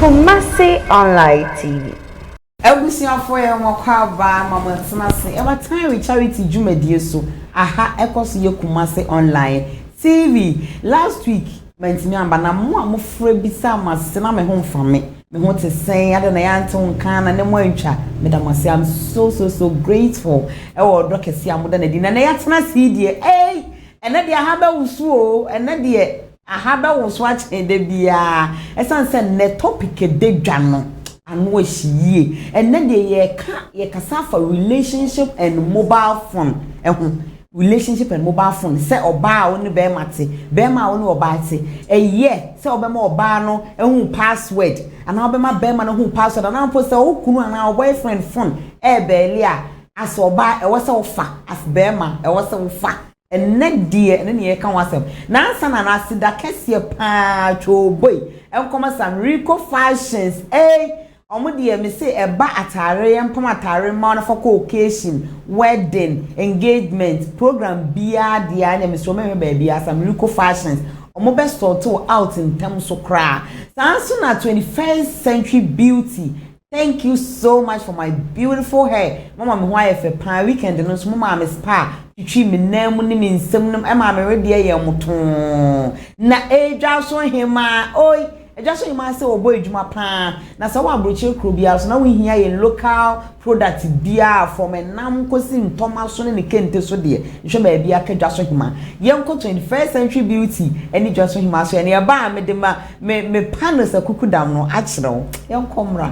Kumasi Online TV. Abusuafoɔ yɛ mo akwaabaa ma mo atena ase ɛwɔ Tyree charity dwumadie so aha ɛkɔ so yɛ Kumasi Online TV last week Mantumi amba na mo a mofrɛ bisaa mo asese na me ho mfa me. Me ho te sɛn? Adɛn na yɛantew nka na ne moantwa? Meda mo ase, I'm so so so grateful wɔ ɔdɔ kɛse a moda no adi. Na nnɛ yɛatena ase yi deɛ, ei! Ɛnnɛ deɛ aha bɛwoso o, ɛnnɛ deɛ aha bɛwoso akyen da biara ɛsiane sɛ nnɛ topic a ɛda dwa no ano ahye yie. Ɛnnɛ deɛ yɛreka, yɛkasa afa relationship and mobile phone ho. relationship and mobile phone sɛ ɔbaa a wo ne bɛrima te bɛrima a wo ne ɔbaa te ɛyɛ sɛ wobɛma ɔbaa no ahu password anaa wobɛma bɛrima no ahu password anaa mpo sɛ wo kunu anaa boyfriend phone ɛɛbɛɛli a as ɔbaa ɛwɔ sɛ wofa as bɛrima ɛwɔ sɛ wofa ɛnɛ deɛ ɛne neɛ ɛka ho asɛm nansa na n'aseda kɛseɛ paa twoo boi nkɔmɔ sa mereko fashions ei Ɔmo deɛ me se ɛba ataare yɛ mpam ataare mma wɔn afa kɔ occasion, wedding, engagement, program biaa deɛ a ɛneɛ me se wɔn mɛhwɛ baabi asa miracle fashions ɔmo bɛ sort wo out ntɛm so koraa saa nso na 21st century beauty thank you so much for my beautiful hair mo ama me ho ayɛ fɛ paa weekend no nso mo maa me spa twitwi me nan mu ne me nsam nom ɛmaa me wedeɛ yɛ mo too na ɛdwa so hemaa oi Agya so nyimaa sɛ wɔbɔ adwuma paa na sɛ wɔ abrokyire kuro biara so na wo hia yɛn local product biara from ɛnam kɔsi ntɔma so ne ne kente so deɛ nhwɛ baabi a ka dwa so hima yɛn kɔ 21st century beauty ɛne dwa so hima so ɛne ɛbaa me de ma me me panos akuku dam no akyerɛ wo yɛn kɔ mmra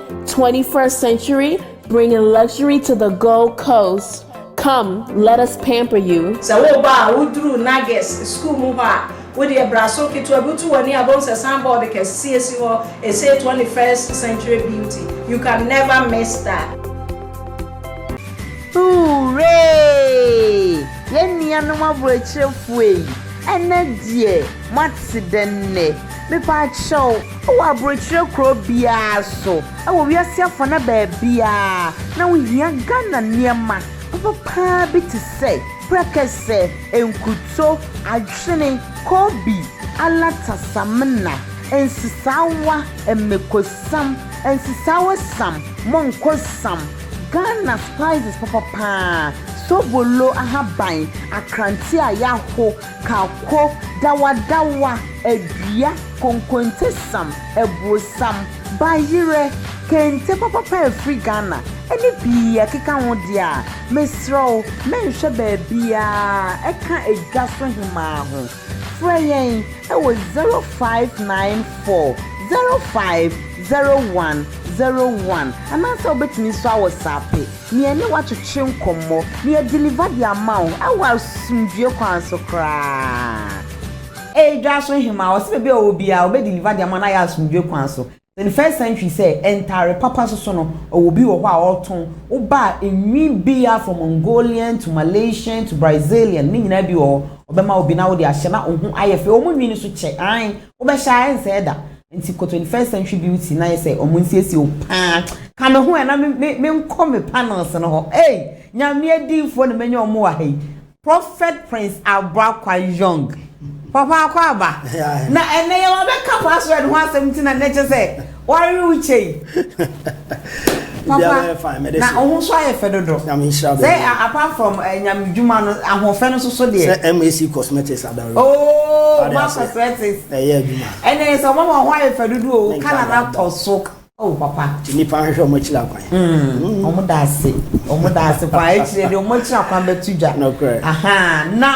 21st century bringing luxury to the gold coast come let us pamper you. Sɛ woreba a, woduru Nages sukuu mu hɔ a, wodeɛ bra so ketewa bi wotu w'ani a, wobɛhu sɛ signboard kɛseɛ si hɔ, ɛse 21st century beauty, you can never miss that. Hooray! Yɛn nuanom aboakyirefo ei, ɛnɛ deɛ moate dɛn nnɛ? Mepaakyɛw, Wɔ aburokyerɛ kuro biara so wɔ wiase afana baabiara na wohia Ghana nneɛma papa paa bi te sɛ, prɛkɛsɛ, nkuto, adwene, koobi, alata, samina, nsesaawa, mmekosam, nsesaawa sam, monko sam, Ghana spices papa paa, sobolo, ahaban, akrante a yɛaho, Kako, dawadawa, adua, konkontesam, abuosam, bayerɛ, kente papapa a ɛfiri Ghana, ne pii ɛkeka ho deɛ a, mesrɛ wo mɛnhwɛ baabiara ɛka Edwa so Hemaa ho. Frɛ yɛn wɔ 0594 05 01 01 anaasɛ wobɛtumi nso awɔsaape. Me ɛne wo atwetwe nkɔmmɔ. Me adeliver de ama wo ɛwɔ asomdwoeɛ kwan so koraa. Ei dwaso hemaa, ɔse baabi a ɔwɔ biara ɔbɛ deliver de ama no ayɛ asomdwoeɛ kwan so. In the first century sɛ ntaare papa so so no ɔwɔ obi wɔ hɔ a ɔɔtɔn, wo ba a ɛnwi biaa from Mongolian to Malaysian to Brazilian ne nyinaa bi wɔ hɔ ɔbɛma wo bi na wode ahyɛ na wo ho ayɛ fɛ, ɔmo nwi no so kyɛ aane Wobɛhyɛ a ɛnsɛe da. Nti kɔ 21st century beauty na yɛ sɛ wɔn nsiesie wo paa. Ka me ho ɛ na me me me nkɔ me panels no hɔ. Ei! Nyame adiyifoɔ na manya wɔn wɔ ha yi. Prophet Prince Abrakwa Young. Papa Akwaaba. Na ɛnnɛ yɛwɔ bɛ ka password ho asɛm nti na nnɛ kyɛ sɛ. Wari wo kyɛ yi. Papa, na wo ho so ayɛ fɛ dodo. Sɛ apart from eh, nyame dwuma no, ahoɔfɛ no soso deɛ. Sɛ MAC Cosmetics adare. Oh, ma cosmetics. Ɛyɛ adwuma. Ɛnɛ sɛ ɔma ma ho ayɛ fɛ dodo o, oh, kala na tɔ so. Oh, papa. Ti nipa nhwɛ ɔmo akyiri akwan. Mm, ɔmo da ase, ɔmo da ase paa. Akyire de ɔmo akyiri akwan bɛto dwa. Nɔkorɛ. Aha, na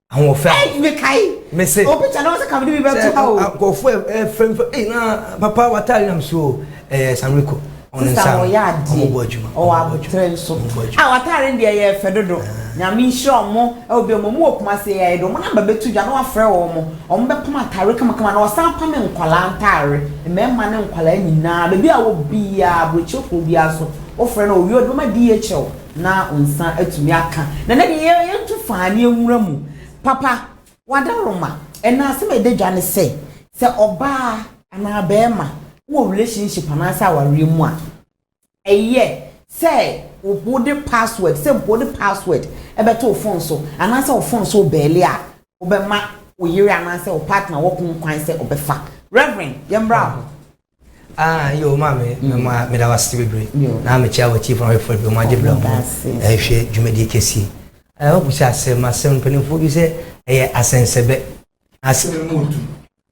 ahoɔfɛ a. Ɛyi mekae. Mese. O picture na wɔsɛ ka mede bi bɛto ha o. Sɛ nkurɔfoɔ ɛfɛmfɛ ɛyi na papa wataare nam so ɛɛ sanwiko. Sista wɔyɛ adeɛ ɔmo bɔ adwuma ɔwɔ abotire nso a wataare deɛ yɛ fɛ dodo nyame nhyira ɔmo ɛwɔ bi ɔmo ɔmo wɔ kumase yɛ ayɛ de ɔmo namba bɛto dwa na wafrɛ wɔn mo ɔmo bɛpam ataare kamakama na ɔsan pam nkwadaa ntaare mmarima ne nkwadaa nyinaa beebi a wɔ biara aburokyefoɔ biara so wofrɛ no owie ɔde bɛma DHL. Na wo nsa atumi aka. Na na deɛ yɛtu faa ne nwura mu. Papa, w'adaroma. Ɛna asɛm a ɛda dwa ne sɛ, sɛ ɔbaa anaa barima wɔ relationship anaasɛ awareɛ mu a, ɛyɛ sɛ wode password, sɛ mpo wode password bɛto wo phone so anaasɛ wo phone so rebɛɛle a, wobɛma wo yere anaasɛ wo partner wɔko kwan sɛ ɔbɛfa. Reverend, yɛmmra hɔ. Ah, yo, maame, mm. ma meda wo ase bebree. Na mekyia w'atiefo na wɔhwɛfo bio ma agye bra ho ɛhwɛ dwumadie kɛseɛ. I hope sɛ asɛm asɛm mpanimfoɔ bi sɛ ɛyɛ asɛnsɛbɛ. Asɛm mu odu.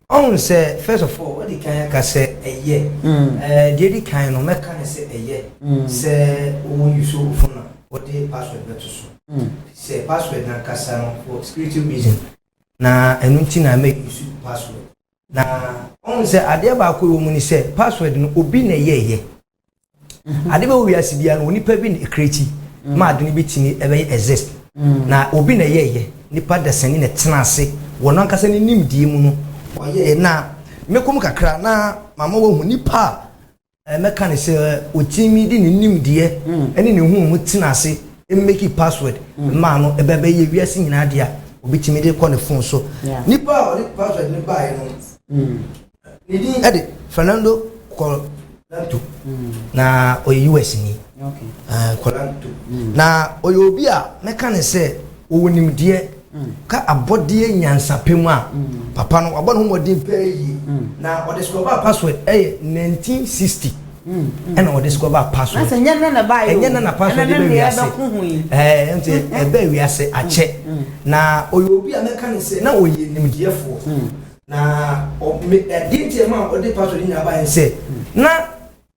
Ɔhun sɛ first of all wɔde kan aka sɛ ɛyɛ. Ɛɛ deɛ di kan no mɛka ne sɛ ɛyɛ. Sɛ wɔn yi so fo na wɔde password bɛto so. Sɛ password nankasa no for security reason na ɛno nti na mɛ yi so password. Na ɔhu sɛ adeɛ baako ɛwɔ mu ne sɛ password no obi na ɛyɛɛyɛ. Mm-hmm. Ade bɛwɔ wiase biara no onipa bi na ɛkreti mm. ma ade no bɛtumi ɛbɛyɛ exist. Mm. Na obi na ɛyɛɛyɛ nipa dasani na ɛtena ase wɔ no ankasa ne nimdeɛ mu no ɔyɛɛ na mɛkɔ mu kakra na mama wahu nipa a Mɛka no sɛ ɔtumi de ne nimdeɛ ne ne nhunumu tena ase meki password maa no, ɛbɛ bɛyɛ wiase nyinaa dea, ɔbɛtumi de kɔ ne phone so. Nipa a ɔde password no baeɛ no, ne din de Fernando Colanto, na ɔyɛ US ni. Colanto. Na ɔyɛ obi a mɛka no sɛ ɔwɔ nimdeɛ. Ka abɔdeɛ nyansapɛ mu a, papa no wabɔ ne ho mmɔden paa yie na ɔde discover password ɛyɛ 1960 ɛna ɔde discover password ɛnyɛ nna na ɛbaa yɛ ɛnyɛ nna na password ɛbɛ wiase ɛɛ nti ɛbɛ wiase akyɛ na ɔyɛ obi a mɛka ne sɛ na ɔyɛ nimdeɛfoɔ na ɛdeɛ nti ɛma ɔde password nyinaa baa yɛ sɛ na.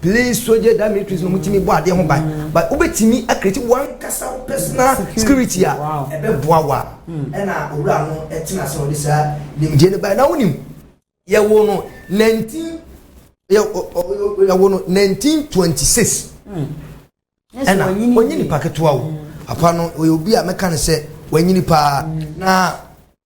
Please sogye da me trees no mutumi bɔ adeɛ ho ban but wobɛtumi akreti wankasa wo personal security a ɛbɛboa wo a ɛna owura no ɛtena sɛ ɔde saa nimdeɛ no bae na wonim yɛwo no 19 yɛwo no 1926 ɛna ɔnyɛ nipa ketewa wo apa no ɔyɛ obi a mɛka no sɛ wanyini paa na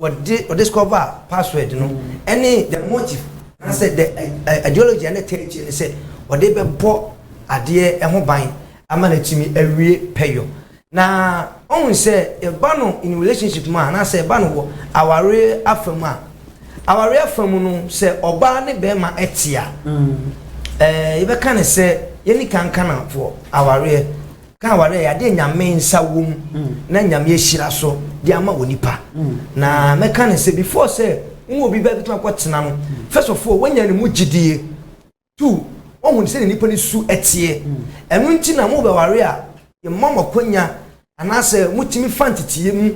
wɔde ɔdiscover password no ɛne the motive anaasɛ the ideology ɛne tɛ akyi ne sɛ wɔde bɛbɔ adeɛ ɛho ban ama no atumi awie pɛyɔ na ɔhu sɛ ɛba no in relationship mu a anaasɛ ɛba no wɔ awareɛ afa mu a awareɛ afa mu no sɛ ɔbaa ne bɛrima ɛte a mm. ɛɛ yɛbɛka ne sɛ yɛni kankanamfoɔ awareɛ Ka aware yɛ adeɛ Nyame nsa wom na Nyame ahyira so de ama onipa. Na mɛka no sɛ before sɛ wo ne obi bɛto akɔ tena no, first of all wanya ne mu gyidie, two wahu sɛdeɛ nipa no su teɛ. Ɛno nti na mobɛware a yɛma mo akwanya anaasɛ motumi fa nteteyɛ mu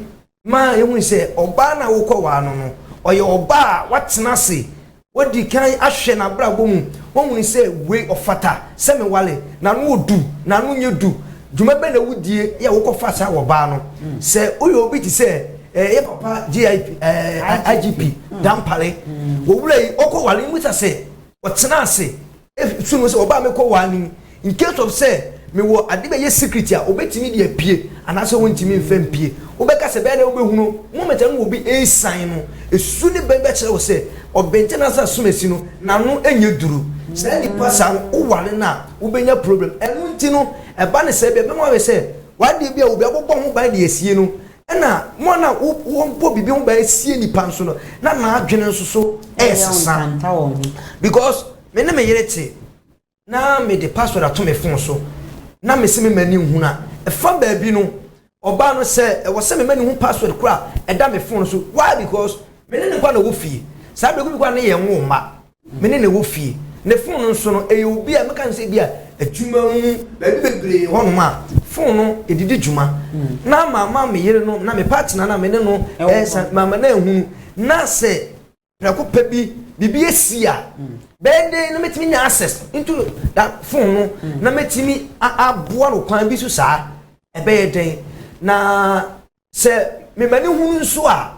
ma yɛhu sɛ ɔbaa no a wokɔwaa no no, ɔyɛ ɔbaa a watena ase, wadi kan ahwɛ n'abrabɔ mu, wahunu sɛ wei ɔfata sɛ mewale, n'ano wɔ du, n'ano nyɛ du. Dwuma bɛn na wodie yɛ a wokɔfaa saa wɔ baa no? Sɛ woyɛ obi te sɛ eh, yɛ papa GIP, eh, IGP Dampare, owura yi ɔkɔwale, mmisa sɛ ɔtena ase Fi mu sɛ ɔbaa me kɔ waa no mu in case of sɛ me wɔ ade bɛyɛ secret a ɔbɛtumi de apue anaasɛ ɔntumi mfa mpue. Wobɛka sɛ bɛyɛ dɛn wobɛhunu moment a ne wɔ bi resian no. Ɛsu ne bɛn bɛkyerɛ wo sɛ ɔbɛnkyɛ nansa asomasi no n'ano nyɛ duru. Saa nipa saa no wo ware no a wobɛnya problem. Ɛno nti no ɛba ne saa bi a ɛbɛma wayɛ sɛ wadeɛ bi a obi abobɔ ho ban de asie no Ɛnna wɔn a na wɔbɔ biribi ho ban sie nnipa nso no, na n'adwene nso so resesa. Because me ne me yere te, na mede password ato me phone so, na mese me mma ni nhunu a, ɛfa baabi no, ɔbaa no sɛ ɛwɔ sɛ me mma ni hu password kora a ɛda me phone so. Why? Because me ne ne nkwa na ɛwɔ fie. Saa berɛ bi kora ne yɛn nwo mma. Me ne no wɔ fie. Ne fon no nso no, ɛyɛ obi a mɛka no sɛ ebia adwuma mu, baabi bebree hɔnom a, fon no ɛde di dwuma. Na ama ama me yere no, na me partner no a me ne no resa, mama no ahunu. Na sɛ prɛko pɛ bi, biribi asi a, bɛyɛ dɛn na mɛtumi anya access into that fon no, na mɛtumi aboa no kwan bi so saa? Ɛbɛyɛ dɛn? Na Sɛ mema no hunu nso a,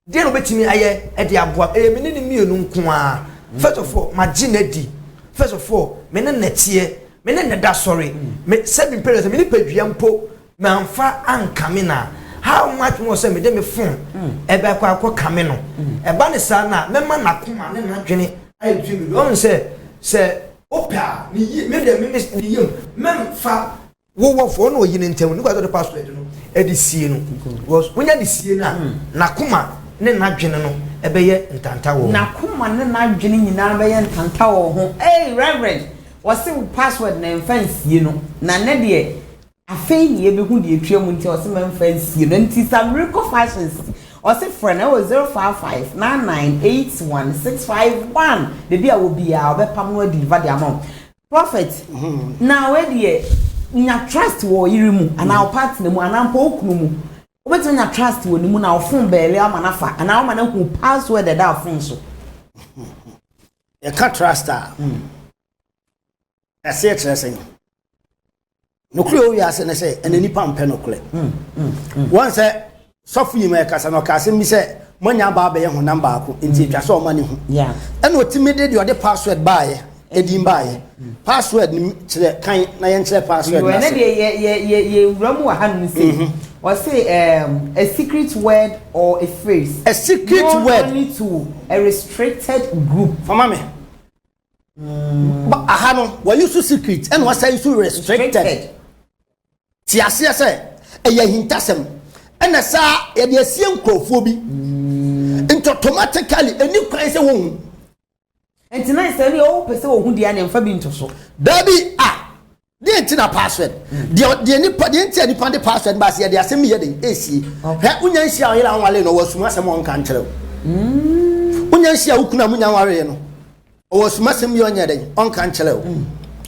deɛn na ɔbɛtumi ayɛ de aboa? Ɛyɛ me ne no mmienu nko ara. First of all, magye no adi. First of all, me ne no teɛ. Me ne no da sɔre. Me sɛ me parents, me nipadua mpo, mamfa ankame no a, how much more sɛ mede me phone ɛbɛ akɔ akɔ kame no. Ɛba ne saa no a, mɛma n'akoma ne n'adwene ayɛ dwene bebree. Ɔhu sɛ, sɛ wopɛ a, me yi, me deɛ me ne ne yam, mɛmfa Wo wɔ fɔ na oyi ne ntɛm ne kwasɔ de password no ɛde sie no because wonya ne sie na hmm. na kuma ne na dwene no ɛbɛyɛ ntanta wɔ ho. Na kuma ne na dwene nyinaa bɛyɛ ntanta wɔ ho. Hey reverend wɔsi wo password na nfa nsie no na ne deɛ afei na yɛbɛhu deɛ etua mu nti ɔsi ma nfa nsie no nti sa miracle fashions ɔsi frɛ na ɛwɔ zero five five nine nine eight one six five one beebi a wɔ biara ɔbɛpam no adi nfa de ama wɔn. Prophet, na wei deɛ, nya trust wɔ ɔyere mu, anaa wo partner mu, anaa mpo wo kunu mu. Wobɛtumi anya trust wɔ ne mu na wo phone bɛɛle ama no afa, anaa wama no ahu password a ɛda phone so. Yɛka trust a, ɛseɛ kyerɛ sɛn? Nokorɛ ɛwɔ wiase ne sɛ ɛna nipa mpɛ nokorɛ. Wɔn sɛ sɔfo yi ma ɛkasa na ɔka asɛm bi sɛ moanya abaa bɛyɛ honam baako nti ɛtwa sɛ ɔma ne hu. Ɛna ɔtumi de deɛ ɔde password baayɛ ɛdin baayɛ. Password no kyerɛ kan na yɛn kyerɛ password no ase. Ɛna deɛ yɛ yɛ yɛ yɛ wura mu wɔ ha nom sɛ ɔse um, a secret word or a phrase. A secret word. Known only to a restricted group. Fama me. Mm. But aha no, were you so secret? And was I so restricted? Ti aseɛ sɛ ɛyɛ ahintasɛm ɛna saa yɛde asie nkurɔfoɔ bi mm. nti automatically ɛni kwan sɛ wɔhu nti na sɛ ne ɔwo pɛ sɛ wɔhu deɛ ne mfa bi nto so daabi a Deɛ nti na password deɛ deɛ nipa deɛ nti a nipa de password ba ase yɛ deɛ asɛm bi yɛ den esie hwɛ wonya nhyia ɔyere a ɔnwale no ɔwɔ asum asɛm a ɔnka nkyerɛ wo mm. wonya nhyia wo kunu a munya nwareɛ no ɔwɔ asum asɛm bi ɔnyɛ den ɔnka nkyerɛ wo mm.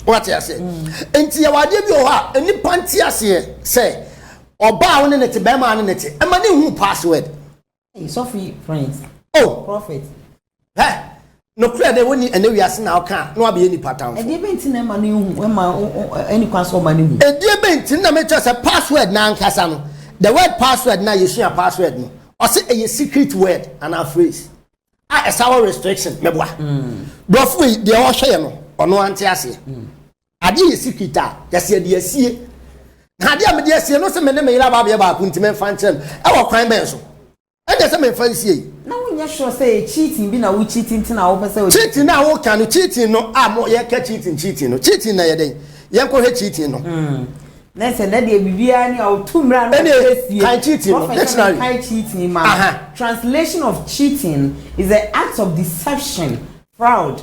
wate aseɛ mm. nti yɛwɔ adeɛ bi wɔ hɔ a nipa nti aseɛ sɛ ɔbaa wo ne ne te bɛrima ne ne te ɛma ne hu password Hey, Sophie Prince. Oh, prophet. Hɛ, nokorɛ dɛ wɔnni ɛnɛ wiase na ɔka na wabɛyɛ nipa tamfo. Ɛdeɛ bɛ nti na ɛma no ehu ɛma ɛni kwan sɛ ɔma no hu. Ɛdeɛ bɛ nti na mɛkyerɛ sɛ password na ankasa no the word password na yɛsua password no ɔsɛ ɛyɛ secret word anaa phrase a ɛsa wɔ restriction mɛboa. Brɔfo wei deɛ ɔhwɛ yɛ no ɔno ante aseɛ. Adeɛ yɛsi kit a, yɛse yɛde asie. Na adeɛ a mede asie no, se me ne me yere aba abɛyɛ baako nti memfa nkyerɛ no. Ɛwɔ kwan bɛn so? Ɛnneɛ se memfa nsie yi. Na wonyɛ sure sɛ ɛyɛ cheating bi na wo cheat nti na wopɛ sɛ ɔgye din? Cheating no a woka no, cheating no a yɛka cheating cheating no, cheating no ɛyɛ dɛn? Yɛnkɔhwɛ cheating no. Na ɛsɛ nnɛ deɛ biribiara ni a wotu mmara no a wode asie. Ɛnneɛ kan cheating no, dictionary. Prɔfɛt na menkae cheating ma wo. Translation of cheating is the act of deception, fraud,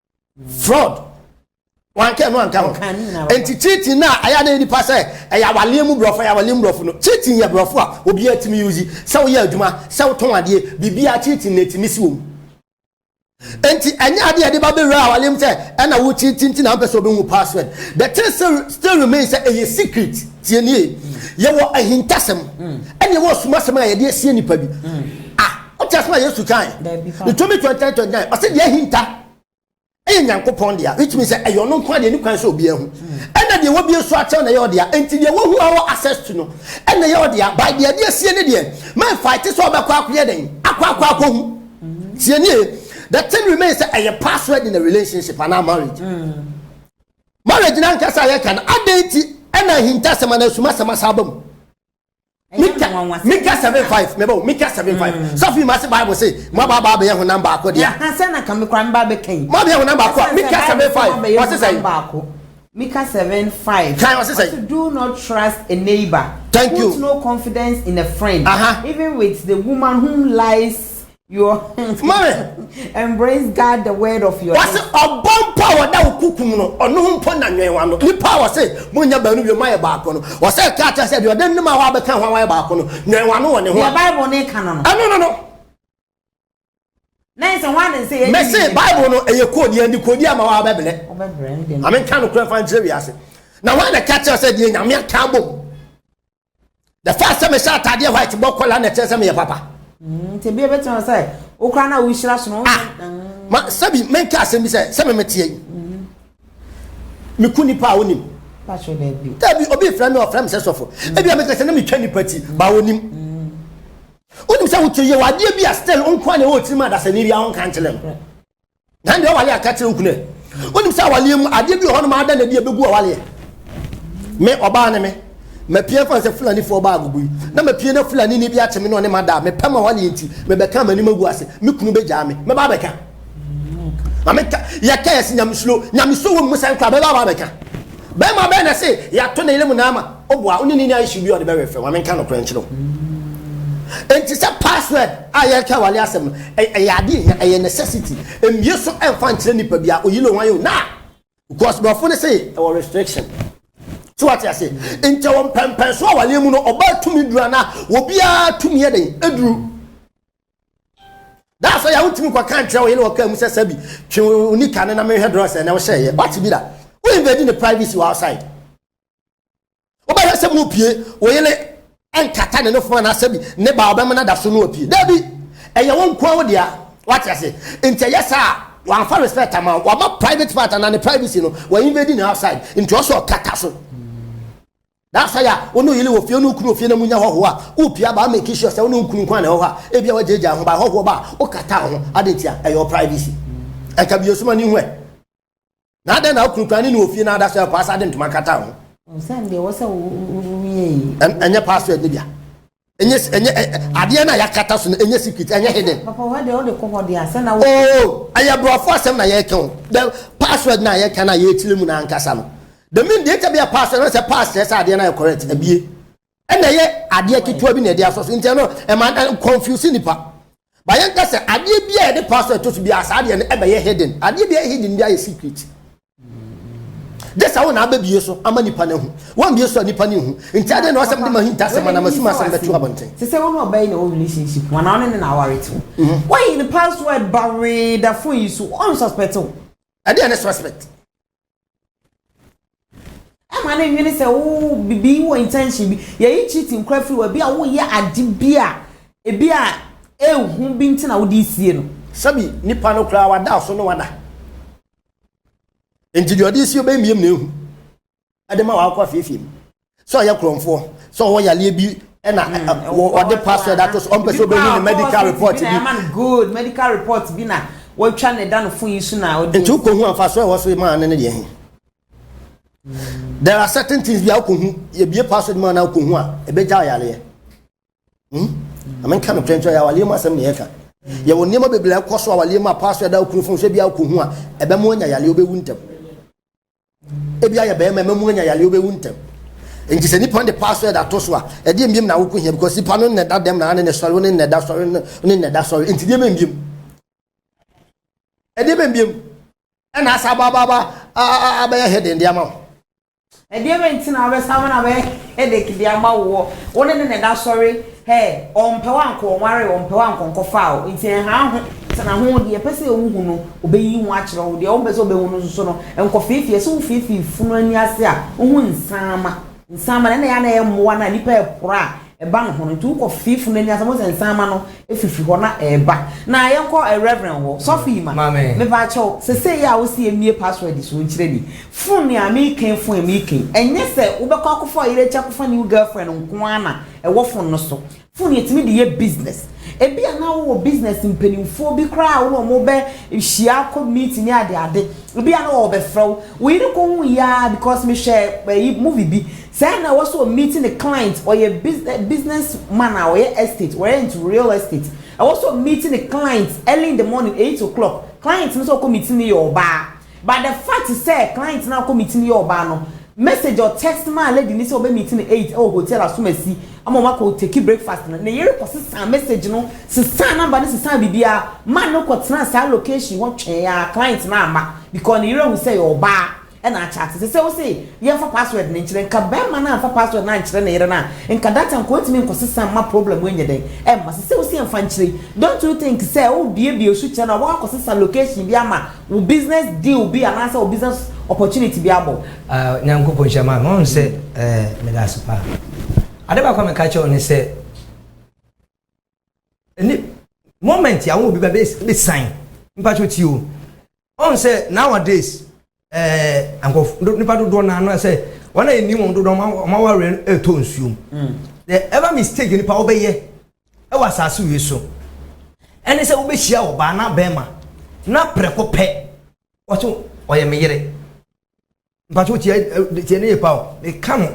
fraud wanka ɛno anka ho nti cheating na ɛyɛ na nipa sɛ ɛyɛ awaleɛ mu borɔfo ɛyɛ awaleɛ mu borɔfo no cheating yɛ borɔfo a obiara tumi yi ozi sɛ woyɛ adwuma sɛ wotɔn adeɛ biribiara cheating na ɛtumi si wɔ mu nti ɛnyɛ adeɛ ɛde ba bɛwura awaleɛ mu sɛ ɛna wo cheating ti na mpɛ sɛ wobɛhu password the thing still, still remain sɛ ɛyɛ secret tiɛnie yɛwɔ ahintasɛm ɛne ɛwɔ asumasɛm a yɛde asie nipa bi ah Wote asɛm a Yesu kae? Deuteronomy 29 29 ɔsɛ deɛ ahinta ɛyɛ Nyankopɔn dea which means sɛ ɛyɛ ɔno nko adeɛ ne kwan sɛ obiara hu ɛna deɛ wɔbie so akyɛw na ɛyɛ ɔdea enti deɛ wɔhu a wɔ access to no ɛna ɛyɛ ɔdea by deɛ ɛde asie ne deɛ mɛ fight sɛ ɔbɛkɔ akɔyɛ dɛn akɔ akɔ akɔ hu tie nie the thing remains sɛ ɛyɛ password in a relationship anaa marriage mm. marriage na nkasa yɛ kan adɛn ti ɛna ahintasɛm anaa asumasɛm asa aba mu mika mika seven five mɛ bɔ mika seven five mm. sɔfin ma se bible se mo ba ba bɛ yɛ honam baako deɛ. yahansa na kame kora mba bɛ kan. mo bɛ yɛ honam baako a mika seven five wɔ sisan yi. mika seven five. kan wɔ sisan yi. do not trust a neighbor. thank you put no confidence in a friend. Uh -huh. even with the woman whom lies Your Mami, embrace God the word of your wɔsi lips. ɔbɔ mpo a wɔda wo kukum no ɔno ho mpo na nwɛn w'ano nipa a wɔsi mo nyɛ baanu wie mo ayɛ baako no wɔsɛ ɛka akyerɛ sɛ deɛ ɔde ne ma hɔ abɛka ho a wɔayɛ baako no nwɛn w'ano wɔ ne ho Deɛ a Bible no ka no no, ɛno no no na ɛsɛ hwan na ɛsɛ yɛn mɛsi yiyi? bible no ɛyɛ koodi yɛn de koodi ama wɔn abɛbrɛ Wobɛbrɛ ɛnde no. maame nka no kura fa nkyerɛ wiase na wɔn na ɛka kyerɛ sɛ deɛ nyame aka abom the fact sɛ mehyɛ ataadeɛ white bɔ kɔla na ɛkyerɛ sɛ meyɛ papa mm, nti bia bɛtumi sɛ wokora no a wohyira sono ah, mm. sɛbi menka asɛm bi sɛ sɛ memeteɛ yi mm-hmm. meku nipa a wonim dabi obi frɛ me ɔfrɛ me sɛ sɔfo mm. ebia mekɛ sɛ na metwa nipa ti ba wonim wonim sɛ wokyɛ yɛ wadeɛ bi a still nkoa na ɛwɔ tirim adasani bi a wonka nkyerɛ no Na ɛnna ɔwale aka kyerɛ okunu ɛ wonim sɛ awaleɛ mu adeɛ bi wɔ hɔ nom ada na ɛde ɛbɛgu awaleɛ me ɔbaa ne me mapia fa sɛ fulanifoɔ baa agogo yi na mapia na fulani ne bi akye me na ɔne ma daa mepɛ ma awaleɛ nti mebɛka m'anim agu ase me kunu bɛgyaa me mɛba abɛka ma meka yɛka yɛse nyamesuro nyamesuro wɔ mu sɛn kora mɛba aba abɛka Bɛrima bɛn na se yɛato ne yere mu naa ma obu a wo ne no nni ayɛ hyew bi a ɔde bɛwe fam? Ma menka nokorɛ nkyerɛ wo. Enti sɛ password a yɛreka awale asɛm no, ɛ, ɛyɛ ade a ehia, ɛyɛ necessity. Mmue so mfa nkyerɛ nipa biara, oyi ne wan o, na, because borɔfo no se ɛwɔ restriction. So wate aseɛ? Enti ɛwɔ mpɛnpɛnsoɔ awaleɛ mu no, ɔbaa tumi duru anaa obiara tumi yɛ dɛn? Duru. da sɛ yɛ wontumi nkɔ kan kyerɛ wo yere wɔ kaa mu sɛ sɛ bi twe wo nika no na mehwɛ drɔs ɛnɛ wohyɛ yɛ wate bi da woyɛ bɛdi ne privacy wɔ outside wobɛhwɛ sɛ mu pie wo yere ɛnkata ne nofo anaasɛ bi ne ba ɔbɛma no da so no apue da bi ɛyɛ wo nkoa wo dea wate ase nti ɛyɛ saa wɔamfa respect ama wɔama private part anaa ne privacy no wɔinvade ne outside nti ɔsɛ ɔkata so Na sɛ yɛ a, wo ne wo yere wɔ fie, wo ne wo kunu wɔ fie na munya hɔhoɔ a, wopia ba make sure sɛ wo ne wo kunu nko ara na ɛwɔ hɔ a, ebia woagyaagyaa wo ho. Ba hɔhoɔ ba a, wokata wo ho. Adɛn ntia? Ɛyɛ wo privacy. Ɛka bi esum ani hu ɛ. Na adɛn na wo kunu koraa ne ne wɔ fie na ada so ɛkɔ asa de ntoma kata wo ho? Ɔsan deɛ ɛwɔ sɛ woyɛ yi. Ɛnyɛ password no bia. ɛnyɛ ɛnyɛ adeɛ no a yɛakata so no ɛnyɛ secret ɛnyɛ hidden. papa wɔ deɛ wode kɔ hɔ deɛ asɛ na. oo oh, ɛyɛ borɔfo asɛm na yɛreka o the password na yɛka na yɛretire mu na ankasa no the mean deɛ ɛtɛ bi a password na sɛ pass kyerɛ sɛ adeɛ no yɛ correct abie ɛna ɛyɛ adeɛ ketewa bi na ɛde asɔ so nti ɛno ɛma confuse nipa bayɛ nka sɛ adeɛ bi a yɛde password to so bi a saa adeɛ no ɛbɛyɛ hidden adeɛ bi a yɛ hidden bi ayɛ secret. gye sɛ wo na abɛbie so ama nipa no ahu woambie so a nipa no nhu nti adɛn na wasɛm de ma hinta asɛm anam asum asɛm bɛto abɔnten te sɛ wo ne ɔbaa yi na wɔ relationship ho anaa wo ne ne na aware te wo mhm. woayi ne password ba wee da fon yi so ɔnsuspect wo ɛdeɛ ne suspect ɛma ne nwene sɛ wo bibi wɔ intention bi yɛyi cheating kora firi wa bi a woyɛ ade bi a ebi a ehu bi nti na wode sie no sɛbi nipa no koraa wada so no wada nti deɛ ɔde si ɔbɛn mmiam na ehu ɛde ma wakɔ afeefee mu sɛ ɔyɛ korɔmfoɔ sɛ ɔwɔ yareɛ bi ɛna hmm, ɔde password ato so ɔmpɛ sɛ ɔbɛhu ne medical report bi good medical report bi na wɔatwa ne da no fo yi so na ɔde nti wokɔhu amfa so ɛwɔ so maa ne ne deɛ he there are certain things bi a wokɔhu yɛbie password ma na wokɔhu a ɛbɛgya yareɛ Hmm? Ame nka no kyɛn kyɛn yɛ awaleɛ mu asɛm na yɛka. Yɛwɔ nneɛma bebree ɛkɔ so awaleɛ mu a paa so ɛda okunu fon sɛ bi a okɔ hu a ɛbɛ mu anya yaleɛ obɛwu ntɛm. Ebi ayɛ bɛrima ɛbɛ mu anya yaleɛ obɛwu ntɛm. Nti sɛ nipa de paa so ɛda to so a ɛdeɛ mbiem na awoko hia because nipa no nnɛda dɛm na ane ne sɔre ne nnɛda sɔre ne nnɛda sɔre nti deɛ bɛ mbiem. Ɛdeɛ bɛ mbiem ɛna asa abaababa abɛyɛ hɛden de ama wo. Ɛdeɛbɛn nti na wabɛsan ama no abɛyɛ headache de ama woɔ? Wo ne no na ɛda asɔre hɛɛ, ɔmpɛ wo ankɔ ɔnwaree wo, ɔmpɛ wo ankɔ ɔnkɔfaa wo, nti ɛnha wo ho, tena ho, deɛ ɛpɛ sɛ wohu no, ɔbɛyiyi ho akyerɛ wo, deɛ wompɛ sɛ ɔbɛhu no nso no, nkɔfeefee, sɛ wofeefee funu ani ase a, wo ho nsaama, nsaama, na ɛna ɛyɛ a na ɛyɛ mmoa no a nnipa repra a ɛba ne ho no nti wokɔ fie funu ani asɛm sɛ nsanma no efifi hɔ na ɛɛba na yɛkɔ eh, reverend hɔ sɔfo yi ma meba akyɛw sese yi a wosi emie password so nkyerɛ ni fun ni a meken fun a meken ɛnyɛ sɛ wobɛkɔ akɔfa ɔyere akyi akɔfa new girlfriend nko ara na ɛwɔ fun no so fun yɛtumi de yɛ business ebi a na wowɔ business mpanimfoɔ bi koraa a wo na wɔn bɛ hyia akɔ meet ne ade ade ebi a na wɔbɛfrɛ wo wo yere kɔ hu yi ara because mehwɛ ɛyi movie bi Sɛ na ɛwɔ sɛ ɔ meet ne client, ɔyɛ business business man a ɔyɛ estate, ɔrent real estate, ɛwɔ sɛ ɔ meet ne client early in the morning, eight o'clock, client no sɛ ɔkɔ meet no yɛ ɔbaa, but the fact sɛ client no a ɔkɔ meet no yɛ ɔbaa no, message ɔ text maa lady no sɛ ɔbɛ meet no eight ɛwɔ hotel Asomasi ama wɔn akɔ take breakfast no, ne yere kɔ sesaa message no, sesaa number no, sesaa biribiara, man no kɔ tenaa saa location hɔ twɛn ara, client no amma, because ne yere ahu sɛ ɛyɛ ɔbaa, na akyɛate. Ɛsɛ sɛ wose yɛmfa password no nkyerɛ. Nka barima no amfa password no ankyerɛ ne yere no a, nka data nka otumi nkɔsesa mma problem yi nyɛ dɛn? Ɛmma. Ɛsɛ sɛ wose yɛmfa nkyere. Don't you think sɛ worebuebue wo sukyerɛ no a, wobɛkɔ akɔsesa location bi ama wo business deal bi anaasɛ wo business opportunity bi abɔ? Ah, Nyankopɔn nhyira Maame. Wahu sɛ eh, meda ase paa. Ade baako a meka kyerɛ wo ne sɛ, ɛni moment a wo obi ba bɛ bɛ sign, mpakyɛ tie o. Ɔn sɛ nowadays ɛɛ nkɔf do nipa dodoɔ naa no sɛ wɔn a yɛ nim wɔn dodoɔ wɔn wɔn awareɛ no ɛɛtɔ nsuo mu. Mm. The ever mistake nipa wɔbɛyɛ ɛwɔ asaase wei so ɛne sɛ wobɛhyia ɔbaa na bɛrima na prɛko pɛ wɔso ɔyɛ me yere. Mpatsɔ tiɛ tiɛ ne yɛ pa o meka no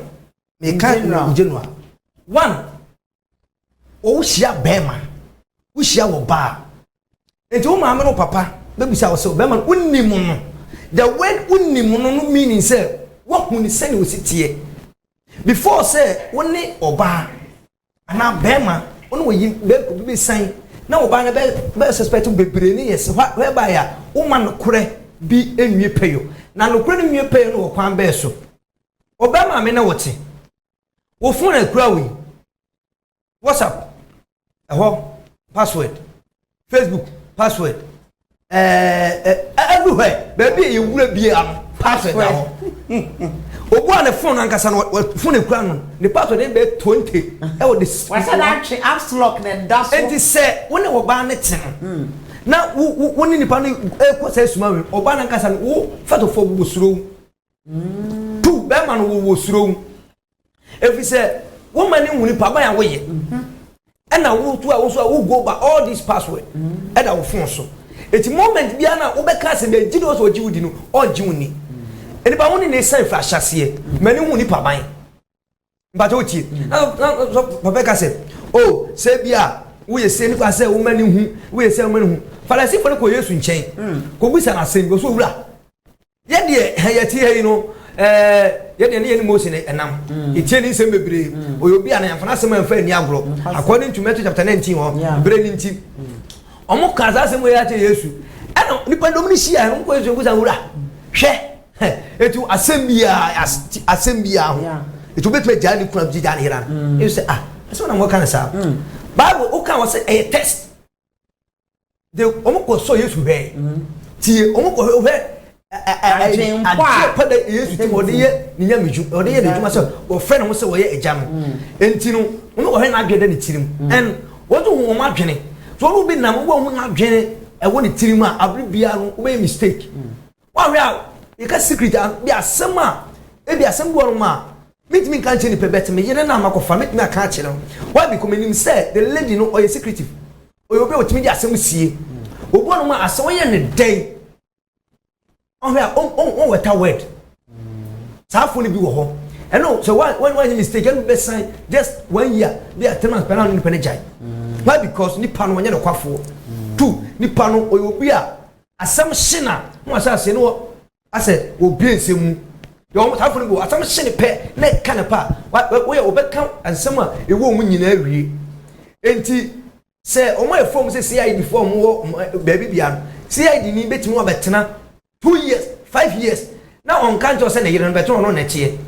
meka no general one wohyia bɛrima wohyia wɔ baa nti wo maame no papa bɛbisa wo sɛ bɛrima no wonim no the word wonim no no meaning sɛ woahu ne sɛne ɔsi teɛ before sɛ wo ne ɔbaa anaa bɛrima wo ne wɔyi bɛkɔ bi bɛsan na ɔbaa no bɛ bɛ suspect bebree ne yɛs whereby a woma nokorɛ bi nwie pɛyɔ na nokorɛ no nwie pɛyɔ no wɔ kwan bɛɛ so ɔbɛrima me na wɔte Wo phone a ekura wo yi, WhatsApp ɛhɔ password, Facebook password, ɛɛ eh, eh, everywhere baabi a yɛwura bia no password da hɔ. Obu a ne phone ankasa no phone ekura no ne password ne bɛyɛ twenty ɛwɔ de. Wɔsɛ na atwe apps lock na ɛda so. Eti sɛ wo ne ɔbaa ne te no hmm. na wo wo ne nipa no ekɔ sɛ esuma wɛm ɔbaa no ankasa no wo fɛtɔfo bu soro. tu bɛrima no wɔwɔ suro mu ɛfiri sɛ woma ne hu nipa ban a woyɛ ɛna wotu a woso a wo go ba all this password ɛda wo fon so ɛti moment biara no a wobɛka sɛ bɛgye de wɔ sɛ ɔgye wo di no ɔgye wo ni nipa wo ne ne sɛn firi ahyɛseɛ ma ne hu nipa ban mpatsɔ wotie na na sɔ papa ka sɛ o oh, sɛ bi a woyɛ sɛ nipa sɛ woma ne hu woyɛ sɛ woma ne hu farisifo no kɔ yesu nkyɛn hmm. kɔbisa no asɛm bi ɔsɛ owura yɛdeɛ ha yɛte ha yi no ɛɛ yɛdeɛ ne yɛ ne mose ne ɛnam hmm. ɛtie ne nsɛm bebree hmm. ɔyɛ obi a na yɛmfa no asɛm amfa ani agorɔ according to matthew chapter 19 hɔ berɛ ne nti ɔmo kaa saa asɛm wɔ yɛ akyɛ yesu ɛna nipa dɔm no hyia no nkɔ yesu nkusa wura hwɛ Hɛ, eti wo asɛm biaa, as, ti asɛm biaa ho. Yeah. Eti wobɛtumi agyaa ne kunu a wogye gyaa ne yera no. Mm. Ebi sɛ, ah, ɛsɛ wo na mɔka no saa. Mm. Bible, woka wɔ sɛ ɛyɛ test. De, wɔn kɔ sɔ Yesu hwɛɛ. Mm. Tie, wɔn kɔ hwɛ, hwɛ adwempa da yesu ti ɔde yɛ ne nyamedwu ɔde yɛ n'adwuma sɛ ɔfrɛ ne ho sɛ ɔyɛ agya no mm. nti no wɔn ɔhwɛ n'adwene da ne tirim mm. ɛn wɔn to wɔn adwene so wɔn bi nam wɔn ho n'adwene ɛwɔ ne tirim a abiri biara no wɔbɛyɛ mistake mm. Wahwɛ a yɛka secret a bi asɛm a ebi asɛm bi wɔ nom a mintumi nka nkyerɛ nipa bɛte me yere na makɔfa metumi aka akyerɛ no why because menim sɛ the lady no ɔyɛ secretive ɔyɛ obi a ɔtumi de asɛm sie obi wɔ nom a asɛ wɔyɛ ne dɛn ɔhwɛ a ɔwɔ ta word saa fo no bi wɔ hɔ ɛno sɛ wɔanyɛ mistake ɛno bɛsan just one year bi a three months pɛn na nipa no gyae why because nipa no ɔnyɛ nokwafoɔ two nipa no ɔyɛ obi a Asɛm hye na na wɔahyɛ aseɛ ne wɔ asɛ wɔbue nsɛm mu. Deɛ wɔn saa fo no bi wɔ asɛm hye ne pɛ na ɛka ne pa a wɔyɛ wɔbɛka nsɛm a ɛwɔ wɔn mu nyinaa awie. Enti sɛ wɔn a ɛfɔm sɛ CID foɔ a wɔn wɔ baabi bia no CID ni bɛtumi wabɛtena two years five years na ɔnka nkyɛw sɛ ne yere no bɛtena ɔno na ɛteɛ.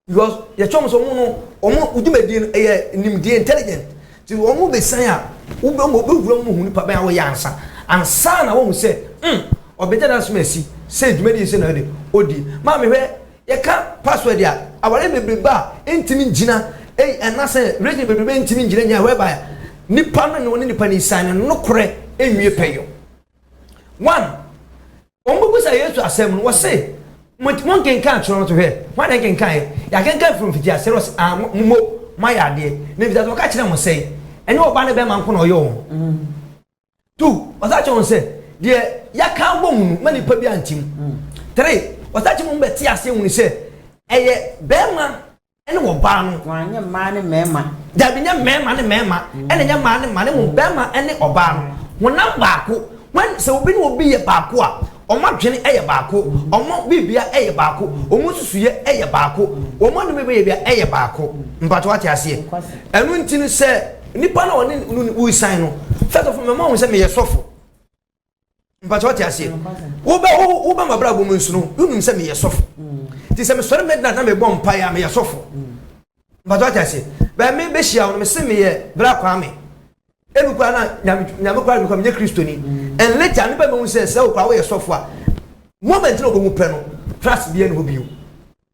Because yɛkyerɛ wɔn sɛ wɔn no wɔn wɔn dwumadie no ɛyɛ nimdeɛ intelligent nti wɔn mo besan a wobɛ wɔn bɛwura mu hu nipa bɛn a wɔyɛ ansa ansa na wɔn sɛ mm ɔbɛgya n'asom asi sɛ dwumadie nso na ɔde ɔdi maame hwɛ yɛka password a aware bebrebe a ɛntumi ngyina ɛyi ɛnasɛ region bebrebe a ɛntumi ngyina nyɛ whereby a nipa no ne wɔn ne nipa no san ne nokorɛ ɛnwie pɛyɔ one Wɔbebisa Yesu asɛm no, wɔse, Monkenkan twerɛ no so hwɛ? Hwan na ɛnkenkaneɛ? Yɛakenkan firi mfitiaseɛ no, wɔse, Aane, mo mmom moayɛ adeɛ. Na mfitiaseɛ wɔka kyerɛɛ mo sɛ, Ɛnyɛ Ɔba ne bɛrima nko na ɔyɛ wɔn. Two, wɔsan kyerɛɛ wɔn sɛ, Deɛ yɛaka abɔ mu no, mma nipa biara nte mu. Three, wɔsan kyerɛɛ mu bɛtee aseɛ hunu sɛ ɛyɛ bɛrima. Ɛne wɔ baa no. Wɔn anyɛ mmaa ne mmarima. Daabi nyɛ mmarima ne mmarima ɛna nyɛ mmaa ne mmaa ne mmom barima ɛne ɔbaa no honam baako when sɛ obi ne obi yɛ baako a wɔn adwene ɛyɛ baako wɔn biribia ɛyɛ baako wɔn nsusuyɛ ɛyɛ baako wɔn anum ɛbɛyɛ bia ɛyɛ baako mpato ate aseɛ ɛno nti no sɛ nipa na ɔne no wusan no first of all mɛma wɔn sɛ meyɛ sɔfo mpatsɛ ɔte aseɛ wobɛ wobɛ ma abrabɔ mu nsono wonum sɛ meyɛ sɔfo nti sɛ mesɔre midnight na mebɔ mpaeɛ a meyɛ sɔfo mpatsɛ ɔte aseɛ bɛn me bɛhyia wo no mese meyɛ bra kwaa me ebi kora na nyame kora ebi kora menyɛ kristoni and later ne bɛn mehu sɛ sɛ okora woyɛ sɔfo a moment na ɔbɛmu pɛ no trust bi ɛne hɔ bio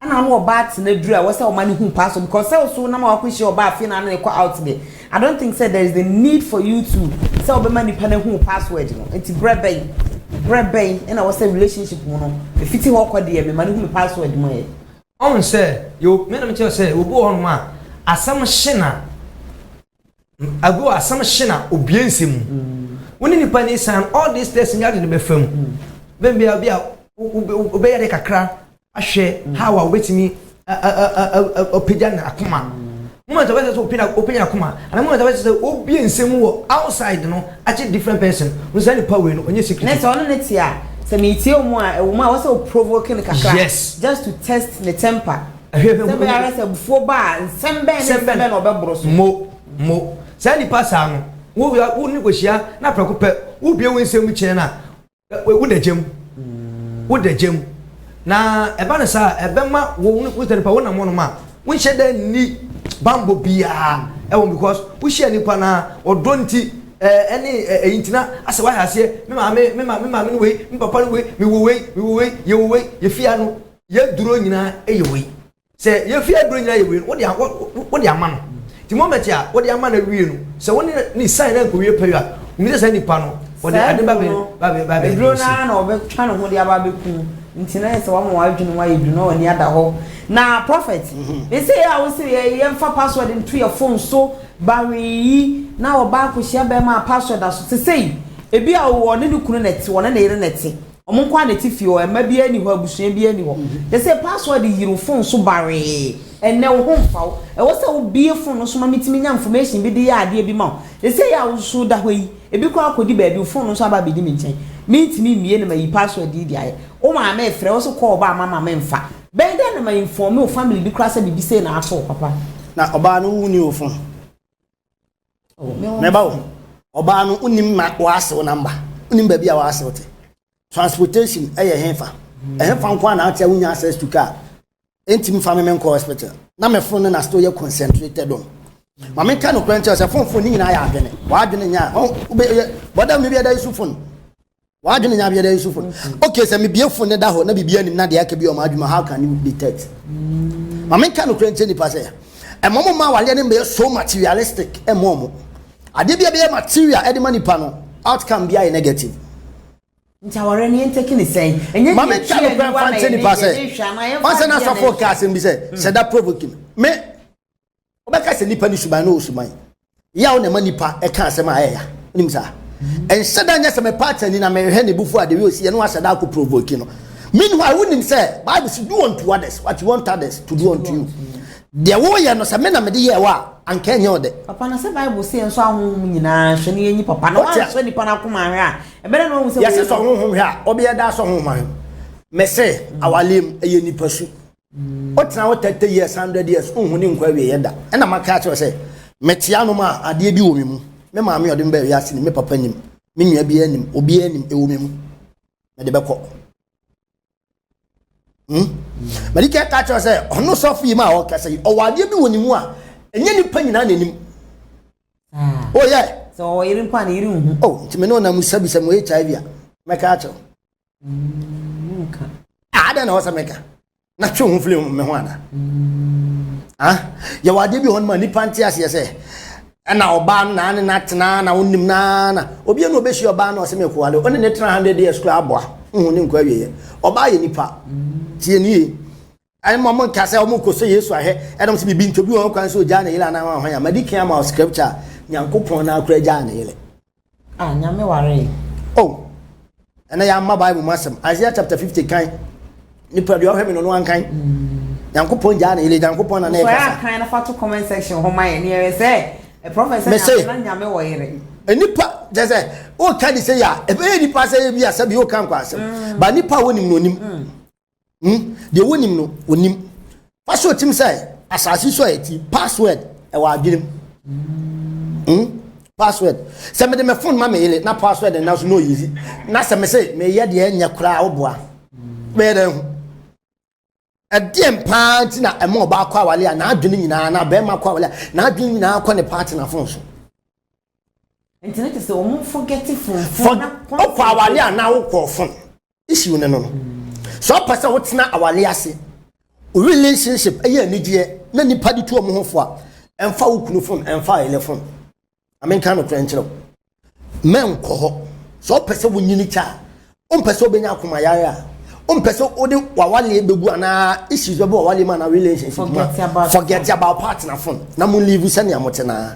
Ana ɔno ɔbaa atsena dur a wɔsɛ ɔma no hu paa so because sɛ ɔso nam a ɔakɔhyia ɔbaa afei na ano rekɔ out deɛ I don't think sɛ there is the need for you to sɛ ɔbɛma nipa no ahu password no nti berɛ bɛn berɛ bɛn ɛna wɔsɛ relationship mu no ɛfiti hɔ kɔ deɛ mema no hu me password mu ɛ. Ɔhu sɛ yɛwɔ mena mekyerɛ sɛ obi wɔ hɔnom a asɛm hye na. ago asɛm hye na obie nsɛm mu wo ne nipa ne san all these things nyɛ ade no bɛfa mu bɛn bia bi a wobɛyɛ de kakra ahwɛ how a wobɛtumi ɔpagya na akoma moment a wɔsɛ sɛ open open akoma ana moment a wɔsɛ sɛ obie nsɛm mu wɔ outside no akye different person wo sɛ nipa wei no ɔnyɛ secret ne sɛ ɔno ne te a sɛ metie wo mu a ɛwo mu a wɔsɛ o provoke no kakra yes just to test ne temper Hwɛ, hwɛ, Sɛ ɛbɛyɛ ara sɛ abufuo ba a, nsɛm bɛn ne Nsɛm nsɛm bɛn na ɔbɛboro so? Mo, mo, saa nipa saa no, wo, wo ne kɔhyia na prɛko pɛ, wobue wo nsɛm mu kyerɛ no a, wo, woda gya mu. Woda gya mu. Na ɛba no saa a, ɛbɛma wo ne wo nipa, wonam hɔnom a, wonhyɛ da nni bammɔ biara ɛwɔ mu because wohyia nipa no ara, ɔdɔ nti, ɛ, ɛne ɛ, ɛyi nti na asɛ woahyɛ aseɛ, me maame, me ma, me maame ne wei, me papa ne wei, mewɔ wei, mewɔ wei, yɛwɔ wei, yɛfie ha no, Yɛduro nyinaa yɛ wei. Sɛ yɛfie aduro nyinaa yɛ wei no, wode ama no. Nti moment a wode ama no awie no, sɛ wo ne no sign na nkɔwie pɛyɔ a, wonim sɛ saa nipa no, ɔde ade ba bɛ ba bɛ ba bɛ aduro no ara na ɔbɛtwa ne ho de aba abɛku wo. Nti na yɛ sɛ wama w'adwene mu ayɛ duru na w'ani ada hɔ. Na Prophet, me se a wo se yɛmfa password nto yɛ phone so ba hwee yi, na ɔbaa kɔhyia bɛrima a password da so. Sesei, ebi a ɔne ne kunu na ɛte, ɔne ne yere na ɛte. Ɔmo nkoaa na ɛte fie hɔ, mma biaa nni hɔ, abusua biaa nni hɔ. Te sɛ password yiri wo phone so bawee, ɛnnɛ wo ho mfa wo. Ɛwɔ sɛ wo bue phone no so ma me tumi nya information bi de yɛ adeɛ bi ma wo. Te sɛ yɛ a wo nso wo da hɔ yi, ebi koraa kɔ di baabi, wo phone no nso aba abɛdi me nkyɛn. Me ntumi mmue na mayi password yi de ayɛ. Wo maame refrɛ, wo se call ba ma ma me mfa. Bɛyɛ dɛn na ma informe wo family bi koraa sɛ biribi sei na ato wo papa? Na ɔbaa no wo nni wo phone? mɛba wo ɔbaa no wonim ma wɔasew namba wonim baabi a wɔasew te transportation ɛyɛ hefa ɛhefa nko a na ate a wonya access to car ɛntimi fa me menkɔ hospital na mefo no na still yɛ concentrated on ma menka nokorɛ nkyɛ sɛ fonfo ne nyinaa yɛ adwene wɔadwene nyɛ a wobɛyɛ bɔda no bi ɛda yi so fon W'adwene nyɛ abiada nsu fun. Okay, sɛ mebie fun ne da hɔ na biribi anim na deɛ aka bi wɔ m'adwuma, how can you detect? Ma menka nokorɛ nkyɛ nipa sɛ, ɛma ɔmo mma awareɛ no mmɛyɛ so materialistic ɛmma ɔmo. Adeɛ bi a ɛbɛyɛ material ɛde ma nipa no, outcome biara yɛ negative. Nti awareɛ no yɛntake no sɛn? Ɛnyɛ deɛ ɛtwi aniwa na yɛde nhwɛ anaa yɛmfa nkyɛ nipa sɛ, ɔnsɛ na asɔfoɔ kaa asɛm bi sɛ, hyɛ da provoking me. wobɛka sɛ nipa ne suban na ɔwɔ suban yaw na ɛma nipa ɛka asɛm a ɛyɛ ya wonim saa ɛnhyɛ da nyɛ sɛ mepa atani na mehwɛ ne bufu adeɛ ɔsi ɛno ahyɛ da akɔ provoke no meanwhile wonim sɛ bible si do unto others what you want others to do unto you deɛ woyɛ no sɛ me na mede yɛ wɔ a anka ɛnyɛ ɔdɛ papa na sɛ bible sɛ yɛn nso ahonhom nyinaa hwɛ ne yɛnyi papa na wansɔ nipa no akoma ahwɛ a ɛbɛrɛ na ɔhu sɛ yɛse sɔ honhom hwɛ a ɔbɛyɛ da sɔ honhom ahwɛ mɛsɛ awaleɛ mu ɛyɛ nipa su wotena hɔ thirty years hundred years nhu ne nkwa awie yɛ da ɛna maka akyerɛ sɛ mekyea nom a adeɛ bi wɔ me mu me maame ɔde me bɛɛ wiase nim me papa nim me nua biara nim obiara nim ɛwɔ me mu mede bɛkɔ hmm? mede kɛ ka kyerɛ sɛ ɔno sɔfo yi ma a ɔkasa yi ɔwɔ adeɛ bi wɔ ne mu a ɛnyɛ nipa nyinaa na anim ah. oyɛ oh, sɛ ɔwɔ yere mpo a ne yere nhu o oh, nti me ne ɔnam sabisa mu hiv a mɛka akyerɛ adɛn na wɔsɛ meka na twe ho firi me ho ana yɛwɔ adeɛ bi hɔ no ma nnipa nte aseɛ sɛ ɛna ɔbaa no naa ne no atena na wonim naa na obia na ɔbɛhyia ɔbaa no ɔsɛ mekowale ɔne ne tena 100 years koraa aboa wohu ne nkɔ awieɛ ɔbaa yɛ nipa tie nie ɛne ma ɔmo nka sɛ ɔmo kɔ sɛ yesu ahwɛ ɛna ɔmo sɛ bibi ntɔ bi wɔn kwan sɛ ogyaa ne yere anaa wɔn ahwan a madi kan ama scripture a nyankopɔn na akora gyaa ne yere a nyame waree o oh, ɛna yɛama bible mu asɛm isaiah chapter fifty kan nipa deɛ ɔhwɛ me no no ankan mm. nyankopɔn gyaa ne yere nyankopɔn na na ɛkasa sɛ akan na fa to comment section hɔ ma yɛ ne yɛrɛ sɛ ɛprɔfɛsɛ nyame na nyame wɔ yere nipa kyɛ sɛ woka de sɛ yɛ a ɛbɛyɛ nipa sɛ yɛ bi asɛ bi woka nkɔ asɛm mm. ba nipa a wonim no onim mm. Hmm? Deɛ wonim no, wonim. Fa so tim sɛ asase so a ɛti password ɛwɔ adwenem. Hmm? Password. Sɛ mede me phone ma me yere na password no nanso na ɔyizi. Na sɛ me se meyɛ deɛ ɛnyɛ koraa woboa. Bɛyɛ dɛn ho? ɛdeɛn paa nti na ɛma ɔbaa kɔ awale a n'adwene nyinaa na bɛrima kɔ awale a n'adwene nyinaa kɔ ne partner fon so. nti ne te sɛ wɔn forgetting fon fon na kɔn. ɔkɔ awale a na awokɔ fon. issue no no no sɛ ɔpɛ sɛ wotena awale ase relationship ɛyɛ anigyeɛ na nipa de tu ɔmo ho fo a ɛmfa wo kunu fon ɛmfa ayɛlɛ fon amenka no korɛ nkyerɛ mɛnkɔ hɔ sɛ ɔpɛ sɛ wonyini kyɛ a ɔmpɛ sɛ wobɛnya akoma yare a ɔmpɛ sɛ wode wawaleɛ bɛgu anaa issues bɛbɛ wawaleɛ mu anaa relationship mu forget about partner fon na mo live sɛnea mote naa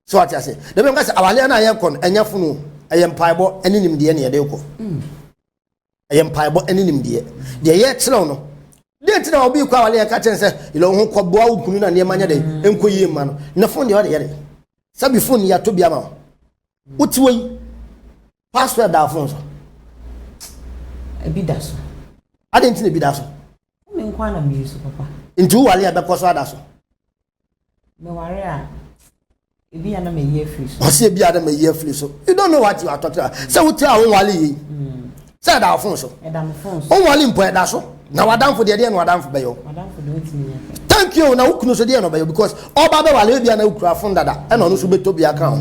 so ate ase na bɛm ka sɛ awaleɛ no a yɛkɔ no ɛnyɛ fono ɛyɛ mpaebɔ ɛne nimdeɛ ne yɛde kɔ ɛyɛ mpaebɔ ɛne nimdeɛ deɛ yɛkyerɛw no deɛ nti na obi kɔ awaleɛ ka kyɛn sɛ yɛlɛ ho kɔboa wo kunu na nneɛma nyɛ dɛ ɛnkɔ yie mma no ne fon deɛ ɔde yɛ dɛ sɛbi fon yɛato bi ama wo wote wɔ yi password da phone so ebi da so ade nti na ebi da so me nko ana me yusu papa nti wowale a bɛkɔ so ada so meware a ebi ana me yi afiri so ɔse ebi ana me yi afiri so you don't know what you are talking about sɛ wote a wowale yi mm. Sɛ ɛda wo fon so. Ɛda me fon so. Wonwale mpo ɛda so. Na w'adamfo deɛ deɛ na w'adamfo bɛyɛ o. W'adamfo deɛ otumi nya. Thank you na wo kunu so deɛ na ɔbɛyɛ because ɔba bɛwale ebia na okura fon dada ɛna ɔno so bɛtɔ bi aka ho.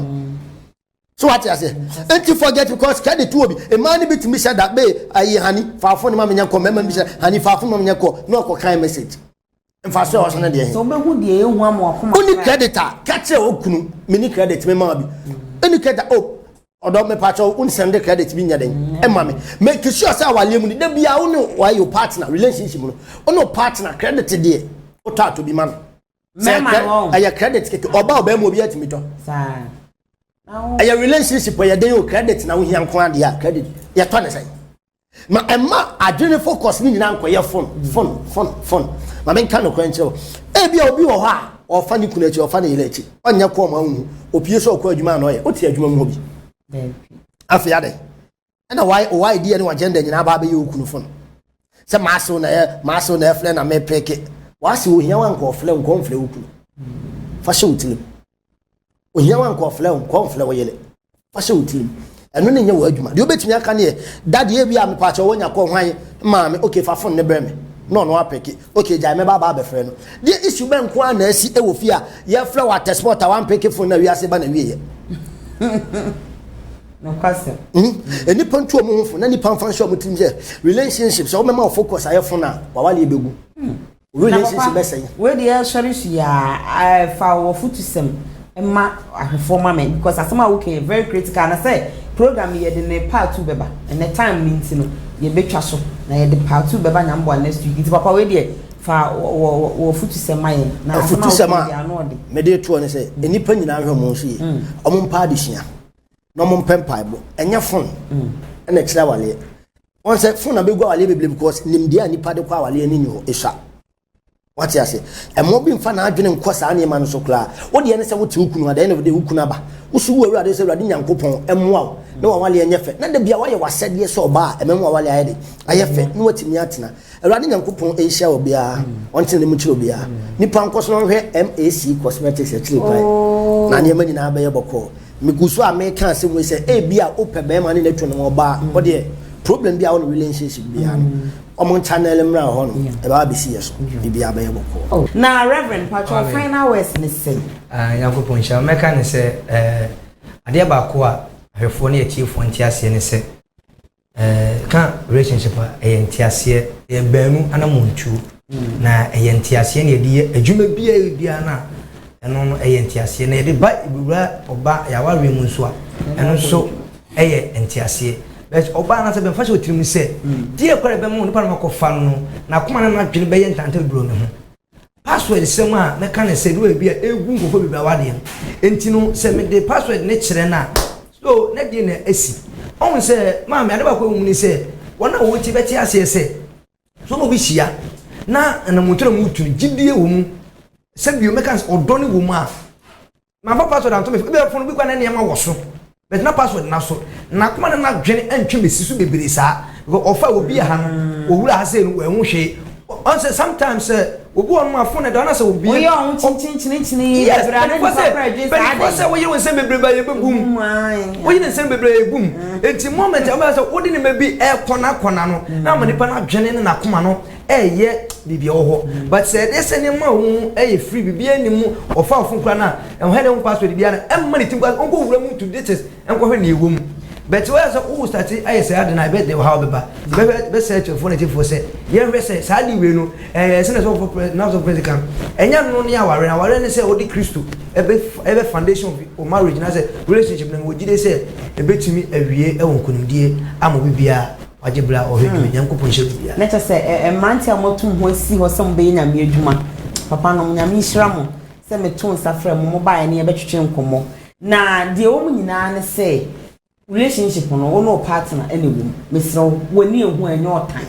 So wate aseɛ nti forget because kɛde to obi mmaa no bi tumi hyɛ da bee ayi hani faafo ne ma menyɛ kɔ mmarima no bi hyɛ hani faafo ne ma menyɛ kɔ na ɔkɔ kan message. mfaso a ɔhyɛ no deɛ he. sɛ wobɛhu deɛ yɛ hu ama wakoma woni credit a ka kyerɛ wo kunu meni credit me ma bi ɛni credit a oh ɔdɔ me pakyɛ wo nsɛnde credit bi nyɛ dɛn ɛma me make sure sɛ awaleɛ mu ni da biara wo ne wayɛ wo partner relationship no wo ne wo partner credit deɛ wotɔ atɔ bi ma no sɛ ɛyɛ credit keke ɔba ɔbaa mu obi atumi tɔ ɛyɛ relationship ɛyɛ dɛn o credit na wohia nko adeɛ a credit yɛtɔ ne sɛn Ma ɛmma adwene focus no nyinaa nkɔyɛ fon, fon, fon, fon. Ma menka nokorɛ nkyerɛ wo. Ebia obi wɔ hɔ a, ɔfa ne kunu akyi, ɔfa ne yere akyi. Ɔnyɛ kɔɔ ma wonhu. Opie sɛ ɔkɔ adwuma a na ɔyɛ. Wote adwuma mu hɔ bi? Afei adɛn? Ɛna why deɛ ne w'agenda nyinaa baa bɛyɛ wo kunu fon. Sɛ m'asew na ɛ, m'asew na ɛflɛ na mepeke. W'asew ohia wo a nka ɔflɛ wo, nka ɔmflɛ wo kunu. Fa hyɛ wo tirim. ohia wa nkɔflɛ wo nkɔmflɛ wo yere wahyɛ wo tirim ɛno ne nyɛ wɔ adwuma deɛ wobɛtumi aka ne yɛ dade awi a mepaakyɛ wɔnya kɔ hwan maame ok fa fon ne brɛ me na ɔno apɛke ok gyae mɛba aba abɛfrɛ no deɛ isu bɛ nko a na asi wɔ fie a yɛfrɛ wɔ atɛspɔt a wampɛke fon na wiase ba na wieɛ nnipa ntu ɔmo ho fo na nnipa mfa nhyɛ ɔmo tirim sɛ relationship sɛ wobɛma wo focus ayɛ fon a wawale bɛgu Na papa, wei deɛ sɔre su yaa eh, fa wo afutusɛm ma ahwɛfoɔ ma me because asɛm a woka yɛ very critical na sɛ program yi yɛde ne part two bɛba ɛnɛ time no nti no yɛbɛtwa so na yɛde part two bɛba nyame boa next week nti papa wei deɛ fa wo afutusɛm ma yɛn na asɛm a woka yɛ deɛ ano ɔde. mede toɔ ne sɛ mm. nnipa nyinaa nhwɛ mo nso yie mm. ɔmo mpa adesua na ɔmo mpɛ mpaebɔ ɛnyɛ fon mm. ɛna kyerɛ awaleɛ wɔn sɛ fon na bɛgu awaleɛ bebree because nimdeɛ a nipa de kɔ awaleɛ no ni hɔ ɛsua wate ase ɛma obi mfa n'adwene nkɔ saa nneɛma no so koraa wodeɛ ne sɛ wote wo kunu adɛn na wode wo kunu aba wosu wo awurade sɛ awurade nyankopɔn ɛmmoa wo na wawaleɛ nyɛ fɛ na da bia woayɛ wasɛdeɛ sɛ ɔbaa ɛmɛma wawaleɛ ayɛ de ayɛ fɛ na watumi atena Awurade Nyankopɔn nhyira obiara, ɔnkyerɛ ne mu nkyerɛ obiara. Nnipa nkɔ so nhwɛ MAC Cosmetics akyiri kwan, na nneɛma nyinaa bɛyɛ bɔkɔɔ. Migu so a meka asɛm wei sɛ ebia wopɛ barima ne no tun ɔbaa, wodeɛ problem biara wo no relationship biara no, wɔn channel mmra hɔ no, ɛbɛba abɛsi yɛ so, biribiara bɛyɛ bɔkɔɔ. Oh, na Rev. Mpakyɛ wo final words ne sɛn? Ah, Nyankopɔn nhyira wo. Mɛka ne sɛ, eh, adeɛ baako a ahwɛfoɔ ne atiefoɔ nte aseɛ ne sɛ, Ka relationship a, ɛyɛ nteaseɛ. Ɛyɛ baanu anammɔntuo. Na ɛyɛ nteaseɛ na yɛde yɛ adwuma biara biara no a, ɛno no ɛyɛ nteaseɛ. Na yɛde ba wura ɔba yɛawareɛ mu nso a, ɛno nso ɛyɛ nteaseɛ. But ɔbaa no sɛ bɛmfa hyɛ ɔtirim sɛ, deɛ ɛkɔ a ɛbɛma onipa no akɔfa no no, n'akoma ne n'adwene bɛyɛ ntantaduro no ho. password sɛm a mɛka ne sɛ do ebi a egu nkɔfo bebree awa deɛ nti no sɛ me de password ne kyerɛ na so na deɛ na esi ɔhun sɛ maame ade baako ehu ne sɛ wɔn a wɔn ti bɛte aseɛ sɛ so na obi hyia na anamoto na mu tu gyidie wɔ mu sɛ bio mɛka ɔdɔ ne wɔ mu a mamfa password anto me phone ebia phone bi kura na nneɛma wɔ so but na password na so n'akoma ne n'adwene antwa me si so bebree saa because ɔfa obi aha no owura ha sɛ no wɔahu hwee ɔn sɛ sometimes sɛ obi wɔn mu afo na ɛda ɔna sɛ obi oyɛ ɔho kyinkyinkyinkyin yes bɛnifɔ sɛ woyere wo nsɛm bebree ba yɛ bɛ bum woyere nsɛm bebree yɛ bum eti moment ɛmɛ sɛ wode ne ma bi ɛkɔna kɔna no na ama nipa n'adwene ne n'akoma no ɛyɛ biribi ɛwɔ hɔ mm. but sɛ ɛdeɛ sɛ nneɛma a wɔn mu ɛyɛ free biribi ɛni mu ɔfa ɔfun kura no a ɛwɔ hɛ dɛ ho password bi ara ɛmma ne ti nkɔ nkɔ wura mu to this is nkɔhwɛ nea ɛwɔ mu but wɔyɛ sɛ wɔwɔ sase ayɛ sɛ adi na ɛbɛ de ɔhaw bɛba bɛhwɛ bɛsɛ ɛkyɛ fone ti fo sɛ yɛhwɛ sɛ saa adi wei no ɛɛ sɛ na sɛ ɔfɔ na sɛ pɛrɛsi kan ɛnya no ne aware na aware ne sɛ ɔde kristo ɛbɛ ɛbɛ foundation of marriage na sɛ relationship na wɔgye de sɛ ɛbɛtumi awie ɛwɔ nkonimdie ama obi biara. Wagye bere a ɔhwɛ dua. Nyankopɔn nhyɛ biribiara. Na kyerɛ sɛ mmeranteɛ a moatu mo ho asi hɔ sɛ mobɛyɛ Nyame adwuma, papa nom, Nyame nhyira mo sɛ metoo nsa frɛɛ mo, mobaeɛ ne yɛbɛtwetwe nkɔmmɔ. Na deɛ ɛwɔ mu nyinaa ne sɛ, relationship no, wo ne wo partner na ɛwɔ mu. Mesrɛ wo, wo ani ahu a, ɛnyɛ ɔtan.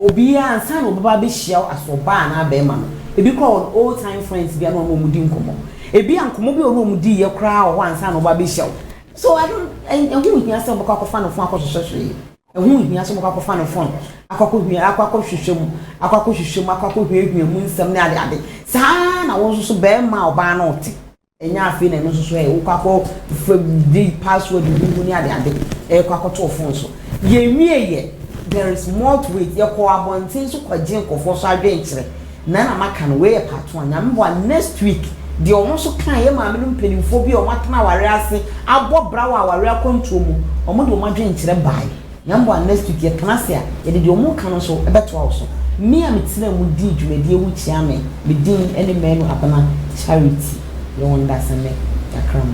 Obiara, ansa na ɔbɛba abɛhyia wo as ɔbaa anaa barima no, ebi koraa wɔ no old time friends bi a na ɔne wɔn di nkɔmmɔ. Ebia nkɔmmɔ bi a ɔne wɔn diiɛ koraa wɔ hɔ ansa na ɔba abɛhyia wo. So I don't, ɛho nhia sɛ wobɛkɔ akɔfa no fon akɔhwehwɛ hwee. Ɛho nhia sɛ wobɛkɔ akɔfa no fon akɔ akɔhwehwɛ akɔ akɔhwehwɛ mu, akɔ akɔhwehwɛ mu, akɔ akɔhwiahwia mu nsɛm ne ade ade. Saa ara na wo nso so barima a ɔbaa no rete. Ɛnyɛ afei na ɛno nso so ɛ, wokɔ akɔfa bi password bi mu ne ade ade ɛrekɔ akɔto wo fon so. Yɛnwieeɛ, there is more to it. Yɛkɔɔ abɔnten so kɔgyee nkurɔfoɔ so adwenkyerɛ. na na maka no wei yɛ part one nyame boa next week deɛ ɔmo nso kaa yɛ maame no mpaninfoɔ bi a ɔmo atena awareɛ ase abɔ bra wɔ awareɛ akwantuo mu ɔmo de ɔmo adwenkyerɛ bae nyame boa next week yɛ tena ase a yɛde deɛ ɔmo ka no nso ɛbɛtoa wo so me a me tena mu dii dwumadie wo kyia me me din ɛne Manu Abena Charity yɛ wɔ Ndasɛmɛ Jakra mu.